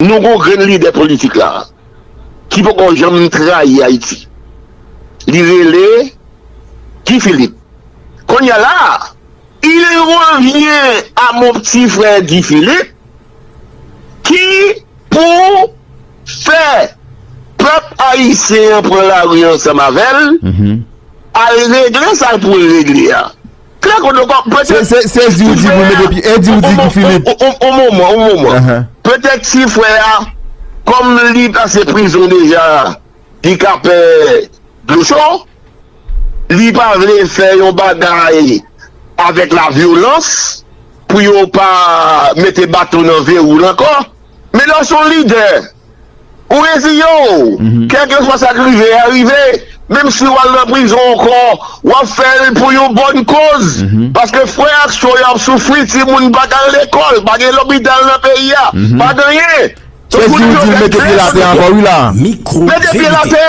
Nou gon grenn lidè politik la ki poko janm trayi Ayiti li rele Guy Philippe konnya la il revient a mon petit frère Guy Philippe ki pou fè pèp ayisyen an pran lari ansanm avèl al regle sal poul regle a. Klè kou dlo kòb. Se di ou di pou mete pi. E di ou di ki Filip. On moman, on moman. Petèt ti frè a, kòm li pase prizon deja, li ka pè dlo cho. Li pa vle fè yon bagay avèk la vyolans pou yo pa mete baton nan ve wou l ankò. Men lè w s on lidè. Ou reziyen w, kèlkeswa sa k rive a rive, menm si w al nan prizon ankò, w ap fè l pou yon bòn koz, paske frè ak sè w yo ap soufri, timoun pa k al lekòl, pa gen lopital nan peyi a, pa ganyen. Se di ou di l mete pye l atè ankò wi la a. Mete pye l atè!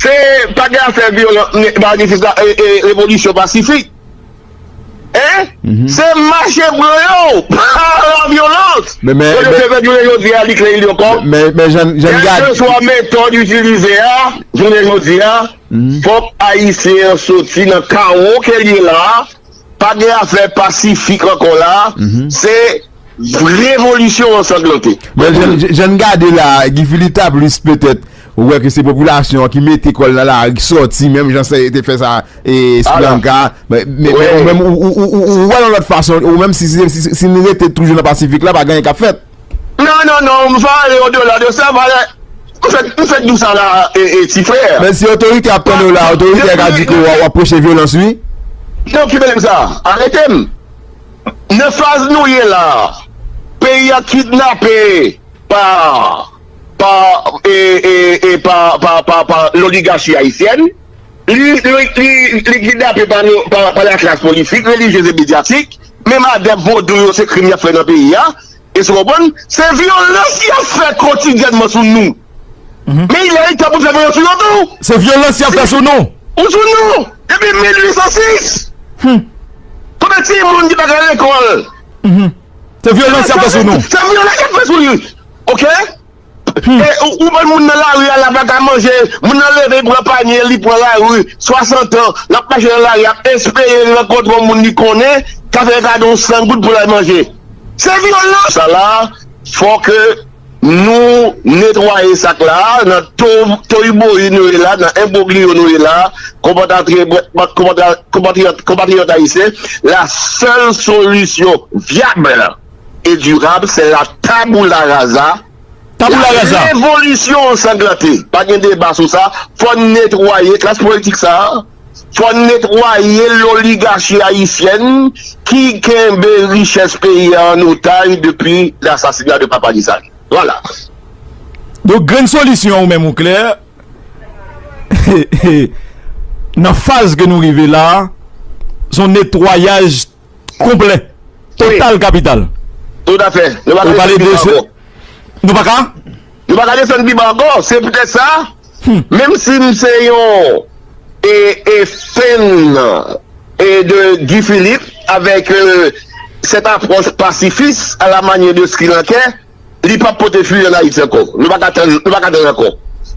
Se pa gen afè vyolan manifestasyon sa e revolisyon pasifik hein se mache blan yo pa la vyolans yo te fè jounen jodi a li klè il yo kò kèlkeswa metòd itilize a jounen jodi a fòk ayisyen an soti nan kawo ke li ye la Pa gen afè pasifik ankò la a, se revolisyon ansanglante. Men jan n gade la a, Guy Philippe ta plis petèt wè ke se popilasyon an ki mete kò l nan lari, ki sòti menm jan se te fè sa Sri Lanka. Men ou menm, ou wè l yon lòt fason, ou menm si n rete toujou nan pasifik la, pa gen anyen k ap fèt. Non non non m va ale odela de sa valè m fèk di w sa la ti frè. Men si otorite ap tann ou la otorite ka di ke wap preche vyolans wi. Nan ki bèlèm sa arete m nan faz nou ye la peyi a kidnape pa pa e pa pa pa loligachi ayisyèn li li kidnape pa pa laklas politik relijyez e medyatik Menm adèp vodou yo se krim y ap fè nan peyi a. Èske w konprann? Se vyolans y ap fè kotidyènman sou nou. Men lè li tan pou n fè vyolans sou yo tou. Se vyolans y ap fè sou nou. Ou sou nou depi 1806. Konbyen timoun ki pa ka al lekòl? Se vyolans y ap fè sou nou. Se vyolans y ap fè sou li. Ok. Ou bann moun nan lari a la pa ka manje, moun nan leve li pran panye li pran lari, 60 ans lap mache nan lari ap espere li rankontre yon moun li konnen ka fè kado yon 100 goud pou lal manje. Se vyolans! Sa la fò ke nou netwaye sak la nan toyiboyi nou ye la nan enbrogliyo nou ye la konpatriyòt ayisyen la sèl solisyon vyab e durab se la taboula raza, la revolisyon an sanglante, pa gen deba sou sa, fò n netwaye klas politik sa, fò n netwaye loligachi ayisyèn ki kenbe richès peyi a an otaj depi lasasina de papa Desalin. Vwala. Donk grenn solisyon ou menm ou klè, nan faz ke nou rive la, son netwayaj. Konplè. Total kapital. Tout a fè. Nou pa ka desann biban ankò. Nou pa ka? Nou pa ka desann biban ankò. Se poutèt sa, menm si m se yon e fèn e de Guy Philippe avèk sèt apwòch pasifis a la manyè de Srilankè, li pap pote fwi an Ayiti ankò. Nou pa ka tann, nou pa ka tann ankò.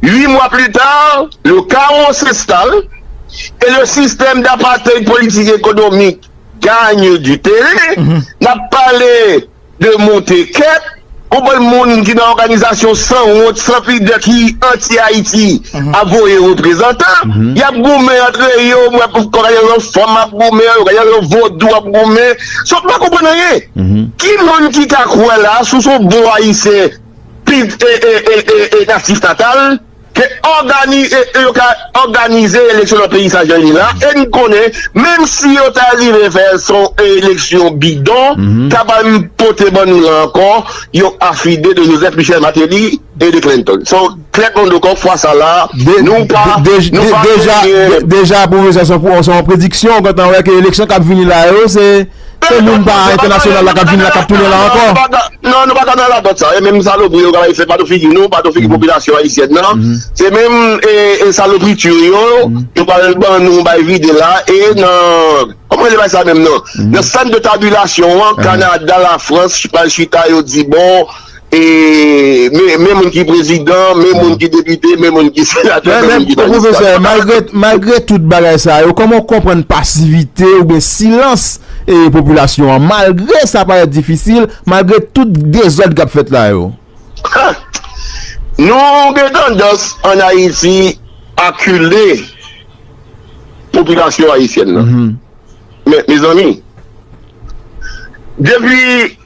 Ui mwa pli ta, le kawo s'enstale e le sistèm d'apartheid politik ekonomik gagne du terrain, n'ap pale de monte kep, yon bann moun ki nan òganizasyon san wont, san pidè ki anti Ayiti ap voye reprezantan, y'ap goumen antre yo, mwen ka gen yon fanm ap goumen, yo ka gen yon vodou ap goumen. So m pa konprann anyen. Ki moun ki ka kwè la sou s on bon Ayisyen natif natal ke yo ka òganize eleksyon nan peyi sa jan l ye la e n konnen menm si yo ta rive fè l s on eleksyon bidon k ap al pote ban nou la ankò yon afide de Joseph Michel Martelly e de Clinton. Trè kondo kok fwa sa la nou pa nou pa genyen. Deja pwofesè se yon prediksyon ou gentan wè ke eleksyon kap vini la yo se moun pa entènasyonal la kap vini la kap tounen la ankò. Non nou pa ka nan radòt sa e menm salopri yo kap fè pa nan figi nou pa nan figi popilasyon ayisyèn nan se menm e salopritur yo yo pral ban nou bay vide la e nan kòman rele bagay sa menm nan nan sant de tabilasyon an kanada lafrans pral chita yo di bon E men moun ki prezidan, men moun ki depite, men moun ki senatè, men moun ki majistra. Men pwofesè, malgre tout bagay sa yo, kòman ou konprann pasivite ou byen silans e popilasyon an? Malgre sa parèt difisil, malgre tout dezòd kap fèt la yo? Ha! Nou gen tandans an Ayiti akile popilasyon ayisyèn nan. Men, mezanmi, depi...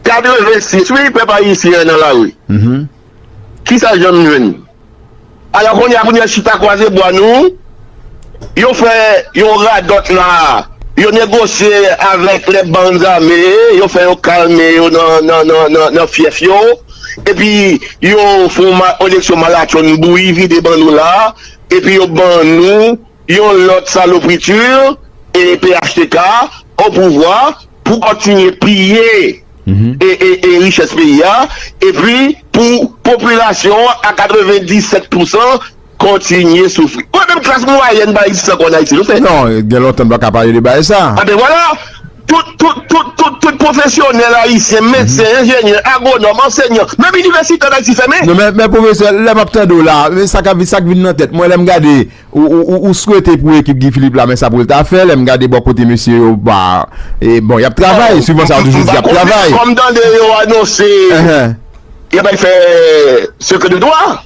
86 wi pèp ayisyen an nan lari kisa janm jwenn ala kounye a pou nèg chita kwaze bwa nou yo fè yon radòt la yo negosye avèk lè bann zame yo fè yo kalme yo nan fyèf yo epi yo fon eleksyon malatchonn bouyi vide ban nou la epi yo ban nou Yon lòt salopriture e phtk o pouvwa pou kontinye piye e richès peyi a epi pou popilasyon an a 97 pousan kontinye soufri. Mwen menm klas mwayèn pa egziste ankò an Ayiti non se. Non gen lontan m pa ka pale de bagay sa. Anben vwala, tout tout tout tout tout pwofesyonèl ayisyen, medsen, enjenyè, agwonòm, ansenyan, menm inivèsite an Ayiti fèmen. Non men men pwofesè lè m ap tande w la sa k ap sa k vin nan tèt mwen lè m gade Ou swete pou ekip Guy Philippe la men sa pou l ta fè, lè m gade bò kote mesye yo, ba, e bon y ap travay, suivan sa yo toujou di y ap travay. Kòm m tande yo anonse y ap al fè sekrè de dwa,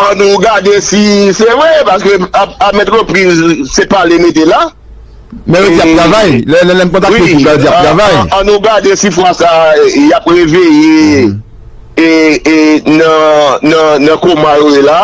an nou gade si se vre, paske a mèt repriz se pale mete la. Men yo di y ap travay, lè m kontakte ekip la yo di y ap travay. An nou gade si fwa sa y ap reveye e nan koma yo ye la.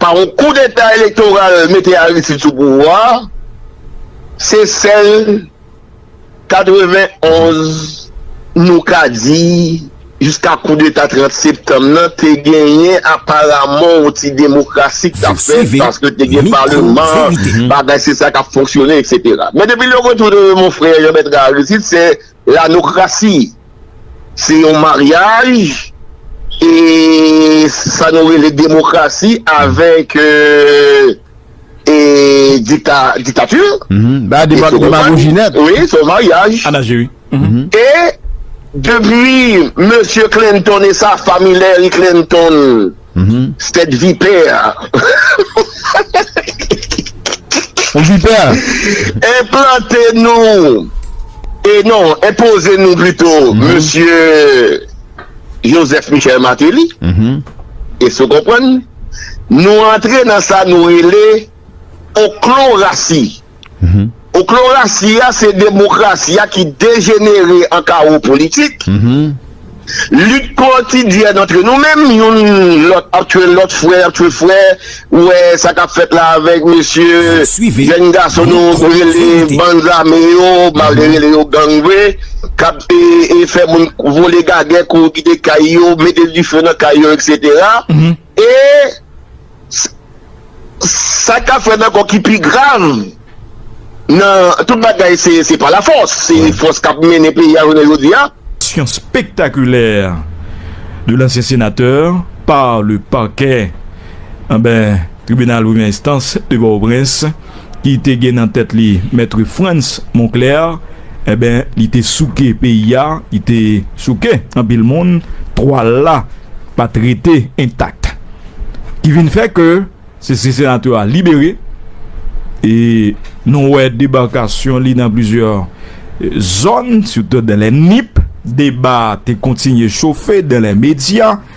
Pa yon koudeta elektoral mete Aristide sou pouvwa a, se sèl 91 nou ka di jiska koudeta 30 septanm nan te genyen aparaman yon ti demokrasi k t ap fèt paske te gen paleman, bagay se sa k ap fonksyone eksetera. Men depi lè yo retounen monfrè Jean Bertrand Aristide se. Lanokrasi se yon maryaj e sa nou rele demokrasi avèk e dikta diktati e se yon maryaj wi se yon maryaj anaje wi e depi mesye Clinton e sa fami Larry Clinton 7 vipè enplante nou e non enpoze nou pito mesye Joseph Michel Martelly eske ou konprann nou antre nan sa nou rele oklorasi. Oklorasi a se demokrasi a ki dejenere an kawo politik. Lit kotidyèn antre nou menm, youn lòt ap tchwe lòt, frè ap tchwe frè, ou wè sa k ap fèt la avèk mesye jèn gason nou rele bann zame yo, m pa vle rele yo gang vre, k ap fè moun vole gagè, kouri kite kay yo, mete dife nan kay yo eksetera. E sa kap fèt ankò ki pi grav nan tout bagay se se pa la fòs, se fòs kap mennen peyi a jounen jodi a. Sion spectaculaire de l'ancien sénateur par le parquet anbè tribinal premyè enstans de Pòtoprens. ki te gen nan tèt li Maitre Frantz Monclair, enben li te souke peyi a, li te souke anpil moun, twal la pa t rete entak. Ki vin fè ke se se senatè a libere e nou wè debakasyon li nan plizyè zòn sitou Dèlè Nip, deba te kontinye chofe Dèlè Medya,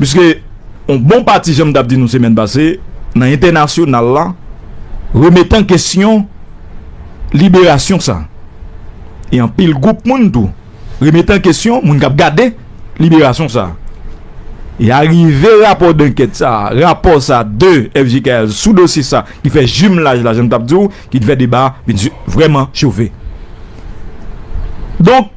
Piske yon bon pati jan m t ap di nou semèn pase nan entènasyonal la remèt an kesyon liberasyon sa e anpil gwoup moun tou remèt an kesyon moun k ap gade liberasyon sa e arive rapò dankèt sa rapò sa de FJKL sou dosye sa ki fè jimlaj la jan m t ap di w ki t fè deba vin vrèman chofe donk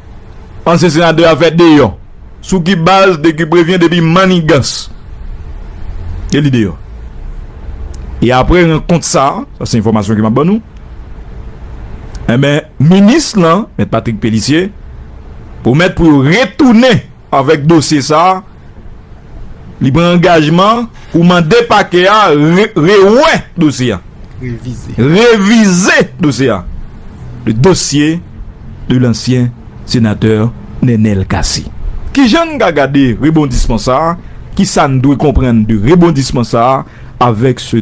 Ansyen senatè a fè deyò sou ki baz de kiprevyen depi mannigans e li deyò e apre rankont sa sa se enfòmasyon ke map ban nou enben minis lan mèt Patrick Pélissier pwomèt pou yo retounen Avèk dosye sa a, li pran angajman pou mande pakè a rewè dosye a, revize dosye a, le dossier de l'ancien sénateur Nenel Cassy. Kijan n ka gade rebondisman sa a? Kisa n dwe konprann de rebondisman sa a avèk se.